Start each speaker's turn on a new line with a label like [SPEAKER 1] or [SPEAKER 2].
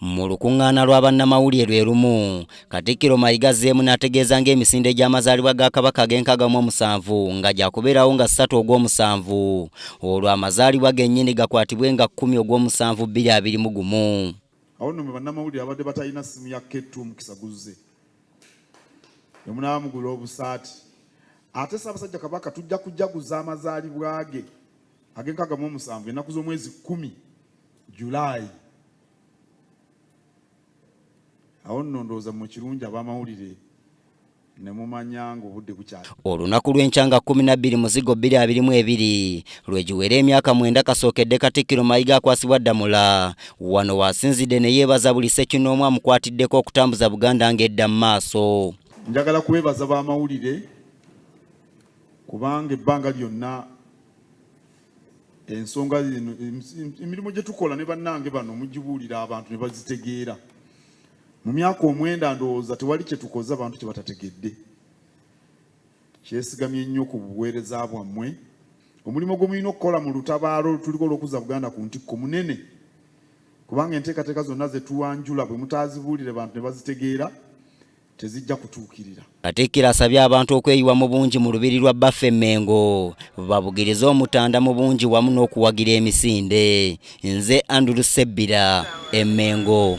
[SPEAKER 1] Mu lukuŋŋaana lwa bannamawulire lwe lumu, Katikkiro Mayiga azzeemu n'ategeeza ng'emisinde gy'amazaalibwa ga Kabaka ag'enkaaga mu omusanvu nga gyakubeerawo nga ssatu ogw'omusanvu olwo amazaalibwa gennyini gakwatibwe nga kkumi ogw'omusanvu bbiri abiri mu gumu. Awo nno mwe
[SPEAKER 2] bannamawulire abadde batalina ssimu ya K2 omukisa guzze ne munaaba mugula obusaati ate Ssaabasajja Kabaka tujja kujaguza amazaalibwa ge ag'enkaaga mu omusanvu ennaku z'omwezi kkumi July awo nno ndowooza mu kirungi ab'amawulire ne mumanya ng'obudde bukyali olunaku lw'enkya nga
[SPEAKER 1] kkumi na bbiri muzigo bbiri abiri mu ebiri lwe giwera emyaka mwenda kasookedde katikkiro mayiga akwasibwa ddamula wano waasinzidde ne yeebaza buli ssekinnoomu amukwatiddeko okutambuza buganda ng'edda mu maaso njagala kubeebaza
[SPEAKER 2] b'amawulire kubanga ebbanga lyonna ensonga zino emirimu gye tukola ne bannange bano mugibuulira abantu ne bazitegeera mu myaka omwenda ndowooza tewali kye tukoze abantu kye batategedde kyesigamye nnyo ku buweereza bwammwe omulimu gwe mulina okukola mu lutabaalo lutuliko olw'okuzza buganda ku ntikko munene kubanga enteekateeka zonna ze tuwanjula bwe mutaazibuulire bantu ne bazitegeera tezijja kutuukirira. Katikkiro asabye
[SPEAKER 1] abantu okweyiwa mu bungi mu lubiri lwa bbaffe Mmengo babugirize Omutanda mu bungi wamu n'okuwagira emisinde. Nze Andrew Sebbira, Emmengo.